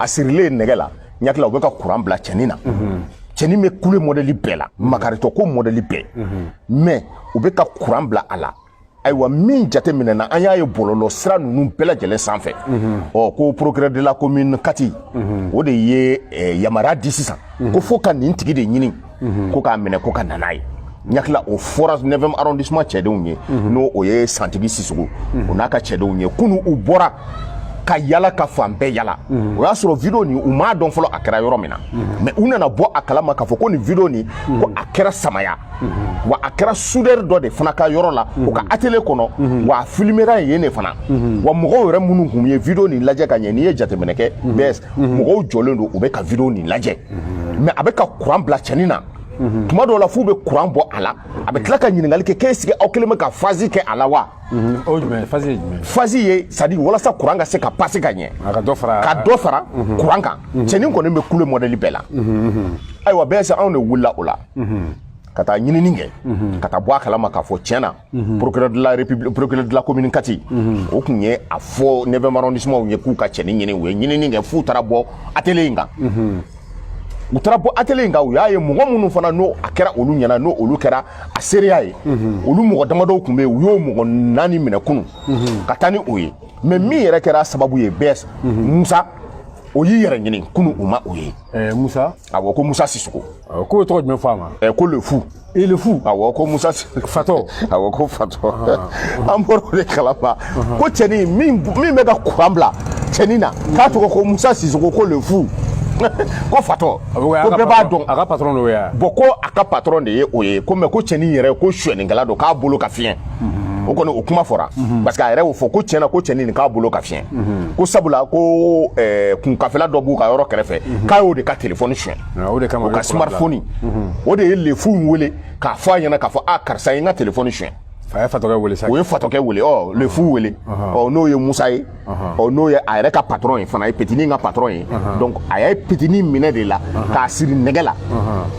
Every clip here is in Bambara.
a sirilen nɛgɛ la n hakili la u bɛ ka kuran bila cɛnin na cɛnin bɛ kule mɔdɛli bɛɛ la makaritɔ ko mɔdɛli bɛɛ mais u bɛ ka kuran bila a la ayiwa min jate minɛna an y'a ye bɔlɔlɔ sira ninnu bɛɛ lajɛlen sanfɛ ɔ ko procureur de la commune kati o de ye yamaruya di sisan ko fo ka nin tigi de ɲini mhm. ko k'a minɛ ko ka na n'a ye n hakili la o fɔra neuvième arrondissement cɛdenw ye mhm. n'o o ye santigi sisoko mhm. o n'a ka cɛdenw ye kunu u bɔra ka yala ka fan bɛɛ yala o y'a sɔrɔ video nin u m'a dɔn fɔlɔ a kɛra yɔrɔ min na mais u nana bɔ a kalama k'a fɔ ko nin video nin ko a kɛra samaya wa a kɛra soudeur dɔ de fana ka yɔrɔ la o ka atelier kɔnɔ wa a filmera yen de fana wa mɔgɔw yɛrɛ minnu kun ye video nin lajɛ ka ɲɛ n'i ye jateminɛ kɛ bɛɛ mɔgɔw jɔlen don u bɛ ka video nin lajɛ mais a bɛ ka kuran bila cɛnin na tuma dɔw la f'u bɛ kuran bɔ a la a bɛ tila ka ɲininkali kɛ ko est-ce que aw kelen bɛ ka phase kɛ a la wa phase ye c'est-à-dire walasa kuran ka se ka pase ka ɲɛ ka dɔ fara kuran kan cɛnin kɔni bɛ kule mɔdɛli bɛɛ la ayiwa bɛɛ se anw de wulila o la ka taa ɲinini kɛ ka taa bɔ a kalama k'a fɔ tiɲɛ na Mhm. procureur de la commune kati mhm. o tun ye a fɔ neuvième arrondissement ye k'u ka cɛnin ɲini u ye ɲinini kɛ f'u taara bɔ atelier in kan mhm. u taara bɔ atelier in kan u y'a ye mɔgɔ minnu fana n'o a kɛra olu ɲɛna n'o olu kɛra a seereya ye olu mɔgɔ damadɔw tun bɛ yen u y'o mɔgɔ naani minɛ kunu ka taa ni o ye mais min yɛrɛ kɛra sababu ye bɛɛ musa o y'i yɛrɛ ɲini kunu u ma o ye eh, musa awɔ ko musa sisoko awɔ ko tɔgɔ jumɛn fɔ a ma ɛ ko le fou i le fou awɔ ko musa fatɔ awɔ ko fatɔ an bɔra o de kalama ko cɛnin min bɛ ka kuran bila cɛnin na k'a tɔgɔ ko musa sisoko ko le fou ko fatɔ ko bɛɛ b'a dɔn a ka patɔrɔn de ye o ye bon ko a ka patɔrɔn de ye o ye ko mais ko cɛnin yɛrɛ ko suɲɛnikɛla don k'a bolo ka fiɲɛ mhm. o kɔni o kuma fɔra mhm. parce que a yɛrɛ y'o fɔ ko tiɲɛ na ko cɛnin nin k'a bolo ka fiɲɛ mhm. ko sabula ko eh, kunkafela dɔ b'u ka yɔrɔ kɛrɛfɛ k'a y'o de ka telefɔni suɲɛ ah, o ka smartphone o de ye le fou in wele k'a fɔ a ɲɛna k'a fɔ a ah, karisa ye n ka telefɔni suɲɛ a ye fatɔkɛ wele sa o ye fatɔkɛ wele ɔ le fou wele ɔ n'o ye musa ye ɔ n'o ye a yɛrɛ ka patɔrɔn ye fana ye petinin ka patɔrɔn ye donc a ye petinin minɛ de la k'a siri nɛgɛ la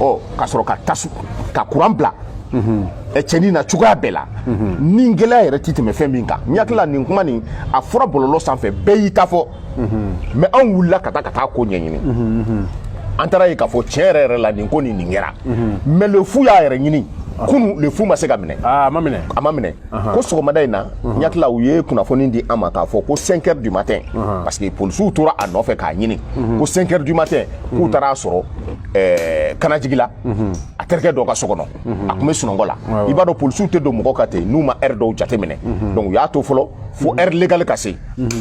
ɔ ka sɔrɔ ka tasu ka kuran bila cɛnin na cogoya bɛɛ la ni gɛlɛya yɛrɛ ti tɛmɛ fɛn min kan n hakili la nin kuma nin a fɔra bɔlɔlɔ sanfɛ bɛɛ y'i ta fɔ mais anw wulila ka taa ka taa ko ɲɛɲini an taara a ye k'a fɔ tiɲɛ yɛrɛ yɛrɛ la nin ko nin nin kɛra mais le fou y'a yɛrɛ ɲini kunu le fou ma se ka minɛ a ma minɛ ko sɔgɔmada in na n hakili la u ye kunnafoni di an ma k'a fɔ ko 5 heures du matin parce que polisiw tora a nɔfɛ k'a ɲini ko 5 heures du matin k'u taara a sɔrɔ eh, kanajigila a terikɛ dɔ ka so kɔnɔ a tun bɛ sunɔgɔ la i b'a dɔn polisiw tɛ don mɔgɔ ka ten n'u ma heure dɔw jate minɛ donc u y'a to fɔlɔ fo heure légale ka se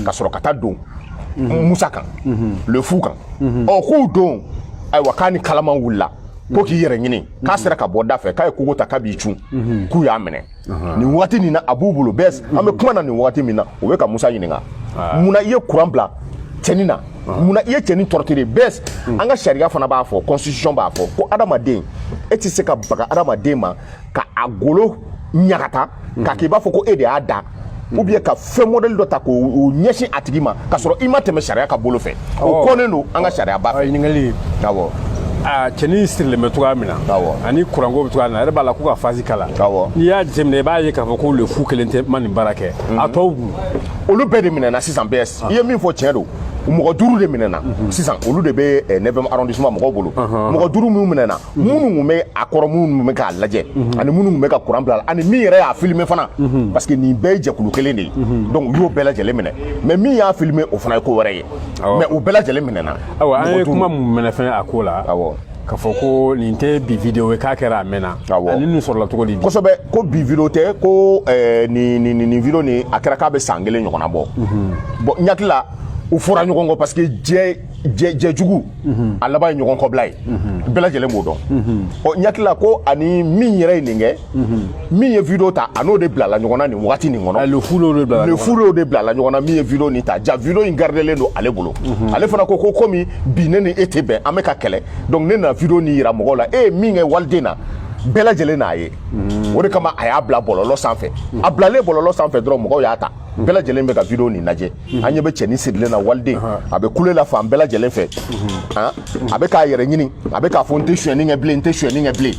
ka sɔrɔ ka taa don musa kan le fou kan ɔ k'u don ayiwa k'a ni kalaman wulila ko k'i yɛrɛ ɲini k'a sera ka bɔ da fɛ k'a ye kogo ta k'a b'i cun mhm. k'u y'a minɛ nin waati nin na a b'u bolo bs an bɛ kuma na nin waati min na o bɛ ka musa ɲininka ah. mun na i ye kuran bila cɛnin na ah. mun na i ye cɛnin torturer bs hmm. an ka sariya fana b'a fɔ constitution b'a fɔ ko adamaden e tɛ se ka baga adamaden ma ka a golo ɲagata k'a hmm. k'i b'a fɔ ko e de y'a da ou bien ka fɛn modèle dɔ ta k'o ɲɛsin a tigi ma ka sɔrɔ i ma tɛmɛ sariya ka bolo fɛ o kɔnnen don an ka sariya ba fɛ ɲininkali awɔ a cɛnin sirilen bɛ cogoya min na ani kuranko bɛ cogoya min na a yɛrɛ b'a la ko ka phase k'a la n'i y'a jateminɛ i b'a ye k'a fɔ ko le fou kelen tɛ ma nin baara kɛ mhm. a tɔw dun olu bɛɛ de minɛna sisan bs ah. i ye min fɔ tiɲɛ don mɔgɔ duuru de minɛna mhm. sisan olu de bɛ eh, 9e arrondissement mɔgɔw bolo mɔgɔ duuru minnu minɛna minnu tun bɛ a kɔrɔ minnu tun bɛ k'a lajɛ ani minnu tun bɛ ka kuran bila ani min yɛrɛ y'a filime fana parce que nin bɛɛ ye jɛkulu kelen de ye donc u y'o bɛɛ lajɛlen minɛ mais min y'a filime o fana ye ko wɛrɛ ye mais u bɛɛ lajɛlen minɛna awa an ye kuma min mɛn fɛnɛ a ko la awɔ k'a fɔ ko nin tɛ bi video ye k'a kɛra a mɛnna awɔ ani nin sɔrɔla cogo di kosɛbɛ ko bi video tɛ ko eh, nin nin nin video nin a kɛra k'a bɛ san kelen ɲɔgɔnna bɔ bon n hakili la u fɔra ɲɔgɔn kɔ parce que jɛ jɛjugu mhm. a laban ye ɲɔgɔn kɔbila ye mhm. bɛɛ lajɛlen b'o dɔn mhm. ɔ n hakili la ko ani min yɛrɛ ye nin kɛ min ye video ta a n'o de bilala ɲɔgɔn na nin wagati nin kɔnɔ le fou de bilala ɲɔgɔn na min ye video nin ta ja video in gardelen don ale bolo ale fana ko ko komi bi ne ni e tɛ bɛn an bɛ ka kɛlɛ donc ne na video nin yira mɔgɔw la e ye min kɛ waliden na bɛɛ lajɛlen n'a ye o de kama a y'a bila bɔlɔlɔ sanfɛ a bilalen bɔlɔlɔ sanfɛ dɔrɔn mɔgɔw y'a ta bɛɛ lajɛlen bɛ ka video nin lajɛ an ɲɛ bɛ cɛnin sirilen na waliden a bɛ kule la fan bɛɛ lajɛlen fɛ a bɛ k'a yɛrɛ ɲini a bɛ k'a fɔ n tɛ sonyɛni kɛ bilen n tɛ sonyɛni kɛ bilen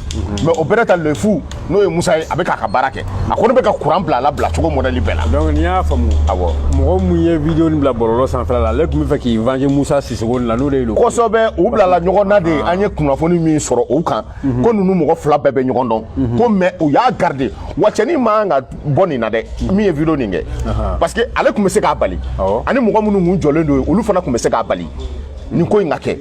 mais o bɛrɛ ta le fou n'o ye musa ye a bɛ k'a ka baara kɛ a kɔni bɛ ka kuran bila a la bila cogo modèle bɛɛ la donc n'i y'a faamu awɔ mɔgɔ min ye video nin bila bɔlɔlɔ sanfɛla la ale tun bɛ fɛ k'i venger musa sisoko nin la n'o de ye kosɛbɛ u bilala ɲɔgɔn na de an ye kunnafoni min sɔrɔ o kan ko ninnu mɔgɔ fila bɛɛ bɛ ɲɔgɔn dɔn ko mais u y'a garder wa cɛnin man ka bɔ nin na dɛ min ye video nin kɛ parce que ale tun bɛ se k'a bali ani mɔgɔ minnu tun jɔlen don olu fana tun bɛ se k'a bali nin ko in ka kɛ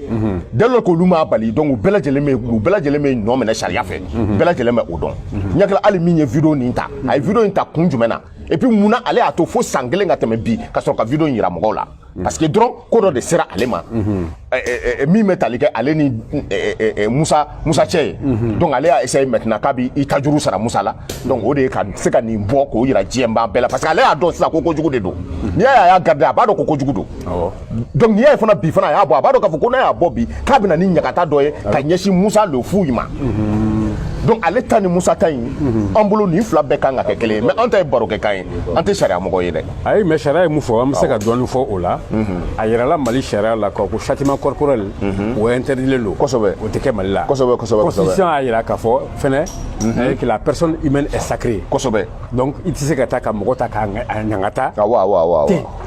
dès lors k'olu m'a bali donc u bɛɛ lajɛlen bɛ u bɛɛ lajɛlen bɛ nɔ minɛ sariya fɛ bɛɛ lajɛlen bɛ o dɔn n hakili la hali min ye video nin ta a ye video in ta kun jumɛn na et puis mun na ale y'a to fo san kelen ka tɛmɛ bi ka sɔrɔ ka video in yira mɔgɔw la parce que dɔrɔn ko dɔ de sera ale ma min bɛ tali kɛ ale ni musa cɛ ye donc ale y'a essayer maintenant k'a b'i tajuru sara musa la donc o de ye ka se ka nin bɔ k'o yira diɲɛbaa bɛɛ la parce que ale y'a dɔn sisan ko kojugu de don n'i y'a ye a y'a garder a b'a dɔn ko kojugu don donc n'i y'a ye fana bi fana a y'a bɔ a b'a dɔn k'a fɔ ko n'a y'a bɔ bi k'a bɛna ni ɲagata dɔ ye ka ɲɛsin musa le fou in ma donc ale ta ni musa ta in an bolo nin fila bɛɛ kan ka kɛ kelen ye mais an ta ye barokɛkan ye an tɛ sariya mɔgɔ ye dɛ ayi mais sariya ye mun fɔ an bɛ se ka dɔɔnin fɔ o la a yirala mali sariya la k'a ko châtiment corporel o interdilen don kosɛbɛ o tɛ kɛ mali la kosɛbɛ kosɛbɛ constitution y'a yira k'a fɔ fɛnɛ eh, que la personne humaine est sacrée kosɛbɛ donc i tɛ se ka taa ka mɔgɔ ta k'a ŋa- a ɲangata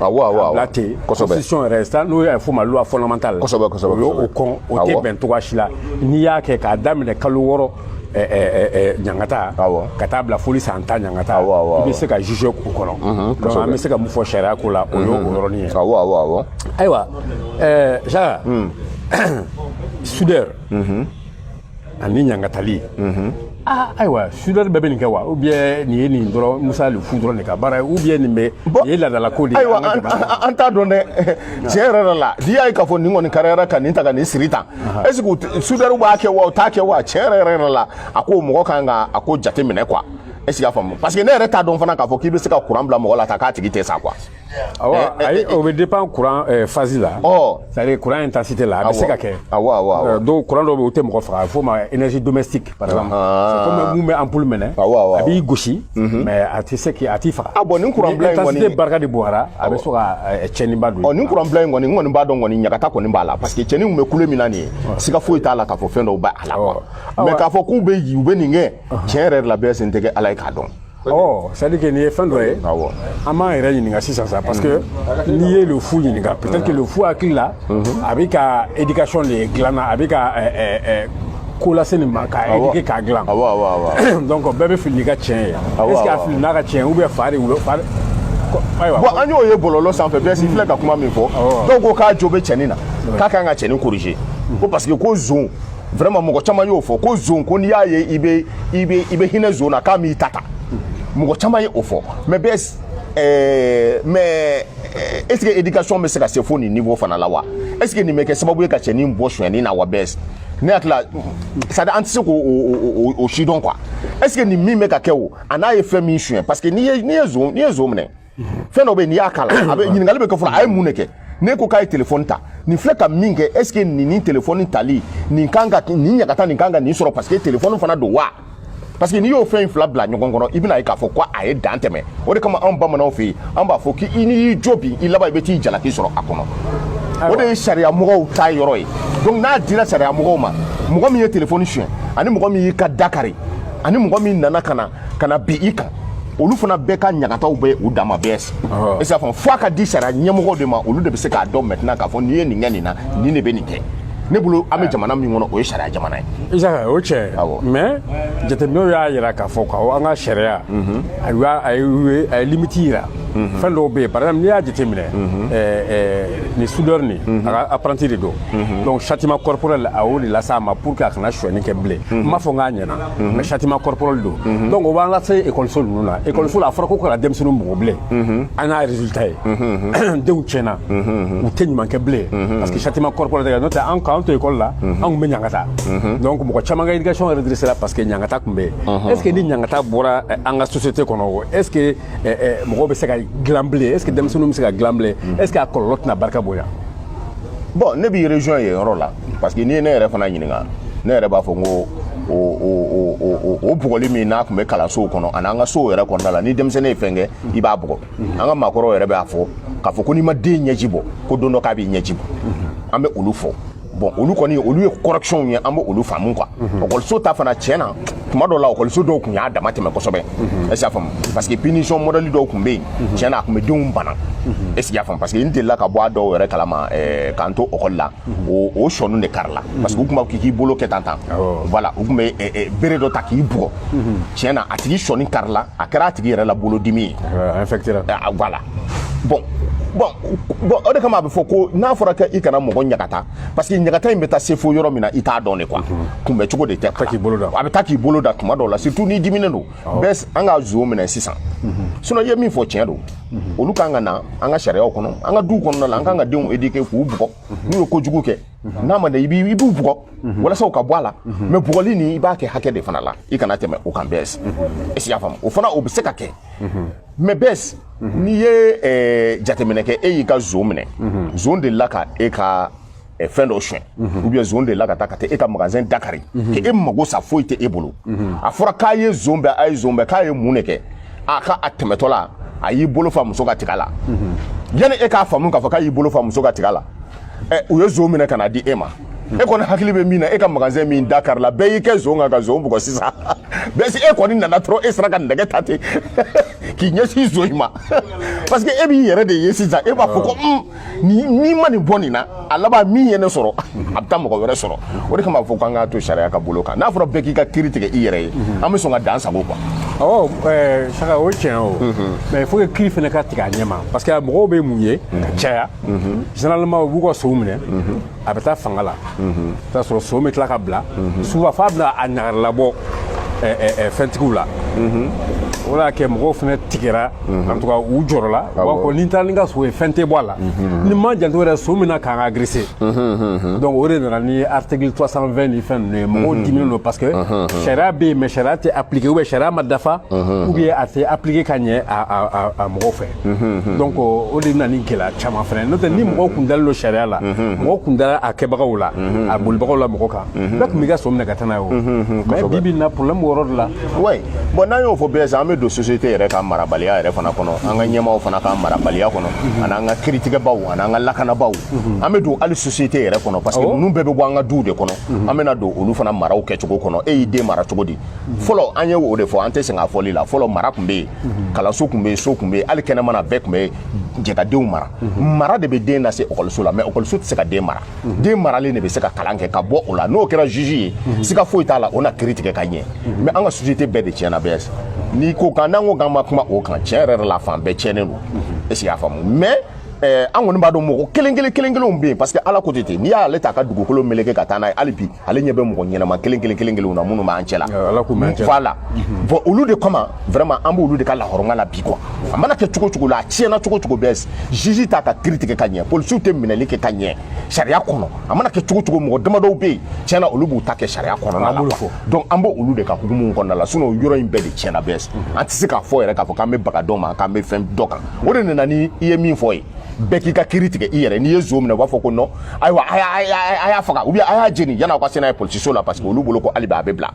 awɔ bila ten kosɛbɛ constitution yɛrɛ sa n'o y'a fɔ ma loi fondamentale Kosɛbɛ, kosɛbɛ, o y'o kosɛbɛ. kɔn o tɛ Awɔ. bɛn cogoya si la n'i y'a kɛ k'a daminɛ kalo wɔɔrɔ ɲangata ka taa bila foli san tan ɲangata i bɛ se ka juger o kɔnɔ donc an bɛ se ka mun fɔ sariya ko la o y'o yɔrɔnin ye ayiwa jacques soudeur ani ɲangatali ah ayiwa soudeur bɛɛ bɛ nin kɛ wa ou bien nin ye nin dɔrɔn musa le fou dɔrɔn de ka baara ye ou bien nin bɛ nin ye laadala ko de ye ayiwa an t'a dɔn dɛ tiɲɛ yɛrɛ yɛrɛ la n'i y'a ye k'a fɔ nin kɔni kariyara ka nin ta ka nin siri tan est ce que soudeurw b'a kɛ wa u t'a kɛ wa tiɲɛ yɛrɛ yɛrɛ la a ko mɔgɔ kan ka a ko jate minɛ quoi est ce que y'a faamu parce que ne yɛrɛ t'a dɔn fana k'a fɔ k'i bɛ se ka kuran bila mɔgɔ la ta k'a tigi tɛ sa quoi. awɔ ah eh, ayi eh, eh, o bɛ dépend kuran phase la. ɔ oh. c'est à dire kuran intensité la a bɛ se ka kɛ. awɔ awɔ awɔ donc kuran dɔw bɛ yen u tɛ mɔgɔ faga a bɛ f'o ma énergie domestique. kɔmi mun bɛ ampoule mɛnɛ a b'i gosi mhm. mais a tɛ se k' a t'i faga a ah, bon nin kuran bila in kɔni ni barika de bonyara a bɛ sɔn ka eh, cɛnniba don ɔ nin kuran bila in kɔni n kɔni b'a dɔn kɔni ɲagata kɔni b'a la parce que cɛnin tun bɛ kule min na nin ye siga foyi t'a la k'a fɔ fɛn dɔw b'a la quoi mais k'a fɔ k'u bɛ u bɛ nin kɛ tiɲɛ yɛrɛ la bɛɛ sen tɛ kɛ ala ye k'a dɔn Oh, c'est à dire que nin ye fɛn dɔ ye an b'an yɛrɛ ɲininka sisan sa parce que mhm. n'i ye le fou ɲininka peut-être que le fou hakili la mhm. a bɛ ka éducation de dilan na a bɛ ka eh, eh, eh, ko lase nin ma k'a éduquer k'a dilan donc bɛɛ bɛ fili n'i ka tiɲɛ ye est ce que a fili n'a ka tiɲɛ ou bien fa de wolo fa bon an y'o ye bɔlɔlɔ sanfɛ bɛɛ si filɛ ka kuma min fɔ dɔw ko k'a jo bɛ cɛnin na k'a ka kan ka cɛnin corriger ko parce que ko zon vraiment mɔgɔ caman y'o fɔ ko zon ko n'i y'a ye i bɛ i bɛ i bɛ hinɛ zon na k'a m'i ta ta mɔgɔ caman ye o fɔ mais bɛ ɛɛ eh, mais eh, est ce que éducation bɛ se ka se fo nin niveau fana la wa est ce que nin bɛ kɛ sababu ye ka cɛnin bɔ sonyɛni na wa bɛɛ ne hakili la c'est à dire an tɛ se k'o o o o si dɔn quoi est ce que nin min bɛ ka kɛ o a n'a ye fɛn min suɲɛ parce que n'i ye n'i ye zon n'i ye zon minɛ. fɛn dɔ bɛ yen n'i y'a k'a la a bɛ ɲininkali bɛ kɛ fɔlɔ a ye mun de kɛ ne ko k'a ye telefɔni ta nin filɛ ka min kɛ est ce que nin ni telefɔni tali nin kan ka nin ɲagata nin kan ka nin sɔrɔ parce que telefɔni fana don wa parce que n'i y'o fɛn in fila bila ɲɔgɔn kɔnɔ i bɛn'a ye k'a fɔ ko a ye dan tɛmɛ o de kama anw bamananw fɛ yen an b'a fɔ k'i n'i y'i jo bi i laban i bɛ t'i jalaki sɔrɔ a kɔnɔ o de ye sariya mɔgɔw ta yɔrɔ ye donc n'a dira sariya mɔgɔw ma mɔgɔ min ye telefɔni suɲɛ ani mɔgɔ min y'i ka da kari ani mɔgɔ min nana ka na ka na bin i kan olu fana bɛɛ ka ɲagataw bɛ u dama bɛɛ si i s'a fɔ fo a ka di sariya ɲɛmɔgɔw de ma olu de bɛ se k'a dɔn maintenant k'a fɔ n'i ye nin kɛ nin na nin de bɛ nin kɛ ne bolo an bɛ jamana min kɔnɔ o ye sariya jamana ye isaka o tiɲɛ mais jateminɛw y'a jira k'a fɔ ko an ka sariya mhm. a ye a ye limite jira mhm. fɛn dɔw bɛ yen par exemple n'i y'a jateminɛ mhm. nin soudeur nin a ka apprenti de don donc châtiment corporel a y'o de lase a ma pour que a kana sonyani kɛ bilen n m'a fɔ n k'a ɲɛna mais châtiment corporel don donc o b'an lase ekɔliso ninnu na ekɔliso la a fɔra ko kana denmisɛnninw bugɔ bilen an n'a résultat ye denw tiɲɛna u tɛ ɲuman kɛ bilen parce que châtiment corporel tɛ kɛ n'o tɛ an k'an to ekɔli la an tun bɛ ɲangata donc mɔgɔ caman ka éducation redressée la parce que ɲangata tun bɛ yen est ce que ni ɲangata bɔra an ka société kɔnɔ o est ce que mɔgɔw bɛ se ka dilan bilen est ce que denmisɛnninw bɛ se ka dilan bilen est ce que a kɔlɔlɔ tɛna barika bonya bon ne b'i rejoint yen yɔrɔ la parce que n'i ye ne yɛrɛ fana ɲininka ne yɛrɛ b'a fɔ n ko o o o o bugɔli min n'a tun bɛ kalansow kɔnɔ ani an ka sow yɛrɛ kɔnɔna la ni denmisɛnnin ye fɛn kɛ i b'a bugɔ an ka maakɔrɔw yɛrɛ b'a fɔ k'a fɔ ko n'i ma den ɲɛji bɔ ko don dɔ k'a b'i ɲɛji bɔ an bɛ olu fɔ bon olu kɔni olu ye correction ye an bɛ olu faamu quoi ɔkɔliso mhm. ta fana tiɲɛ na tuma dɔw la ɔkɔliso dɔw tun y'a dama tɛmɛ kosɛbɛ mhm. est ce que y'a faamu parce que punition modèle dɔw tun bɛ yen mhm. tiɲɛ na a tun bɛ denw bana est ce que y'a faamu parce que n delila ka bɔ a dɔw yɛrɛ kalama k'an to ɔkɔli la o o sɔninw de karila parce que u tun b'a fɔ k'i k'i bolo kɛ tan tan voilà u tun bɛ bere dɔ ta k'i bugɔ tiɲɛ na a tigi sɔnin karila a kɛra a tigi yɛrɛ la bolodimi ye voilà bon bon bon o de kama a bɛ fɔ ko n'a fɔra k'i kana mɔgɔ ɲagata parce que ɲagata in bɛ taa se fo yɔrɔ min na i t'a dɔn de quoi kunbɛ cogo de tɛ a bɛ taa k'i bolo da tuma dɔw la surtout n'i diminen don bɛs an ka zon minɛ sisan sinon i ye min fɔ tiɲɛ don olu kan ka na an ka sariyaw kɔnɔ an ka duw kɔnɔna la an kan ka denw éduquer k'u bugɔ n'u ye kojugu kɛ n'a ma ɲɛ i b'u bugɔ walasa u ka bɔ a la mais bugɔli nin i b'a kɛ hakɛ de fana la i kana tɛmɛ o kan bɛs est ce que y'a faamu o fana o bɛ se ka kɛ mais bɛs n'i ye jateminɛ kɛ e y'i ka zon minɛ zon delila ka e ka eh, fɛn dɔ sonya mhm. ou bien zon delila ka taa ka taa e ka magasin dakari mhm. k'e mago sa foyi tɛ e bolo mhm. a fɔra k'a ye zon bɛn a ye zon bɛn k'a ye mun de kɛ a ka a tɛmɛtɔ la a y'i bolo fa muso ka tiga la yanni e k'a faamu k'a fɔ k'a y'i bolo fa muso ka tiga la eh, u ye zon minɛ ka na di e ma e kɔni hakili bɛ min na e ka magasin min dakarila bɛɛ y'i kɛ zon kan ka zon bugɔ sisan mais si e kɔni nana dɔrɔn e sera ka nɛgɛ ta ten k'i ɲɛsin zon in ma parce que e b'i yɛrɛ de ye sisan e b'a fɔ ko n'i ma nin bɔ nin na a laban min ye ne sɔrɔ a bɛ taa mɔgɔ wɛrɛ sɔrɔ o de kama fɔ k'an k'a to sariya ka bolo kan n'a fɔra bɛɛ k'i ka kiri tigɛ i yɛrɛ ye an bɛ sɔn ka dan sagon quoi ɔ eh, saka o tiɲɛ o mais faut que kiri fana ka tigɛ a ɲɛ ma parce que mɔgɔw bɛ mun ye ka caya généralement u b'u ka sow minɛ a bɛ taa fanga la t'a sɔrɔ so bɛ tila ka bila souvent f'a bɛna a ɲagari labɔ fɛntigiw la o de y'a kɛ mɔgɔw fana tigɛra en tout cas u jɔrɔla u b'a fɔ ni n taara ni n ka so ye fɛn tɛ bɔ a la n'i ma janto yɛrɛ so bɛ na k'an agresser donc o de nana ni article 320 ni fɛn ninnu ye mɔgɔw diminen don parce que sariya bɛ yen mais sariya tɛ appliquer ou bien sariya ma dafa ou bien a tɛ appliquer ka ɲɛ a mɔgɔw fɛ donc o de bɛna ni gɛlɛya caman fana n'o tɛ ni mɔgɔw tun dalen don sariya la mɔgɔw tun dara a kɛbagaw la a bolibagaw la mɔgɔ kan bɛɛ tun b'i ka so minɛ ka taa n'a ye o mais bi bi in na problème b'o yɔrɔ de la oui bon n'an y'o fɔ bɛɛ sisan an bɛ don société yɛrɛ ka marabaliya yɛrɛ fana kɔnɔ an ka ɲɛmaaw fana ka marabaliya kɔnɔ ani an ka kiritigɛbaw ani an ka lakanabaaw an bɛ don hali société yɛrɛ kɔnɔ parce que ninnu bɛɛ bɛ bɔ an ka duw de kɔnɔ an bɛna don olu fana maraw kɛcogo kɔnɔ e y'i den mara cogo di fɔlɔ an ye o de fɔ an tɛ sɛgɛn a fɔli la fɔlɔ mara tun bɛ yen kalanso tun bɛ yen so tun bɛ yen hali kɛnɛma na bɛɛ tun bɛ jɛ ka denw mara mara de bɛ den lase ekɔliso la mais ekɔliso tɛ se ka den mara den maralen de bɛ se ka kalan kɛ ka bɔ o la n'o kɛra juge ye siga foyi t'a la o na kiri tigɛ ka ɲɛ mais an ka société bɛɛ de tiɲɛna bɛɛ n'i ko k'an n'an ko k'an ma kuma o kan tiɲɛ yɛrɛ la fan bɛɛ tiɲɛnen don est ce que y'a faamu mais an kɔni b'a dɔn mɔgɔ kelen kelen kelen kelenw bɛ yen parce que ala ko ten n'i y'ale tɛ ka dugukolo meleke ka taa n'a ye hali bi ale ɲɛ bɛ mɔgɔ ɲɛnama kelen kelen kelen kelen na minnu b'an cɛ la voilà bon olu de kama vraiment an b'olu de ka lahɔrɔma la bi quoi a mana kɛ cogo cogo la a tiɲɛna cogo cogo bɛɛ juge t'a ka kiri tigɛ ka ɲɛ polisiw tɛ minɛli kɛ ka ɲɛ sariya kɔnɔ a mana kɛ cogo cogo mɔgɔ damadɔw bɛ yen tiɲɛ na olu b'u ta kɛ sariya kɔnɔna la donc an b'o olu de ka hukumu kɔnɔna la sinon yɔrɔ in bɛɛ de tiɲɛna bɛɛ an tɛ se k'a fɔ yɛrɛ k'a fɔ k'an bɛ baga dɔ ma k'an bɛ fɛn dɔ kan o de nana ni i ye min fɔ ye bɛɛ k'i ka kiri tigɛ i yɛrɛ n'i ye zo minɛ u b'a fɔ ko non ayiwa a y'a faga ou bien a y'a jeni yan'aw ka se n'a ye polisiso la parce que olu bolo ko hali bi a bɛ bila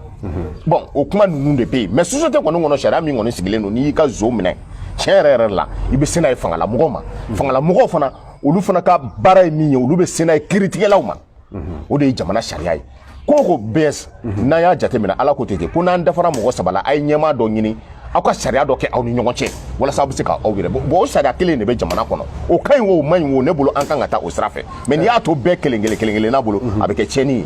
bon o kuma ninnu de bɛ yen mais société kɔni kɔnɔ sariya min kɔni sigilen don n'i y'i ka zo minɛ tiɲɛ yɛrɛ yɛrɛ la i bɛ se n'a ye fangalamɔgɔw ma fangalamɔgɔw fana olu fana ka baara ye min ye olu bɛ se n'a ye kiritigɛlaw ma o de ye jamana sariya ye ko ko bɛɛ mhm. n'an y'a jateminɛ ala ko ten ten ko n'an dafara mɔgɔ saba la a ye ɲɛmaa dɔ ɲini aw ka sariya dɔ kɛ aw ni ɲɔgɔn cɛ walasa aw bɛ se ka aw yɛrɛ bɔ o sariya kelen de bɛ jamana kɔnɔ o ka ɲi o man ɲi o ne bolo an kan ka taa o sira fɛ mais n'i y'a to bɛɛ kelen kelen kelen kelen n'a bolo mhm. a bɛ kɛ tiɲɛni ye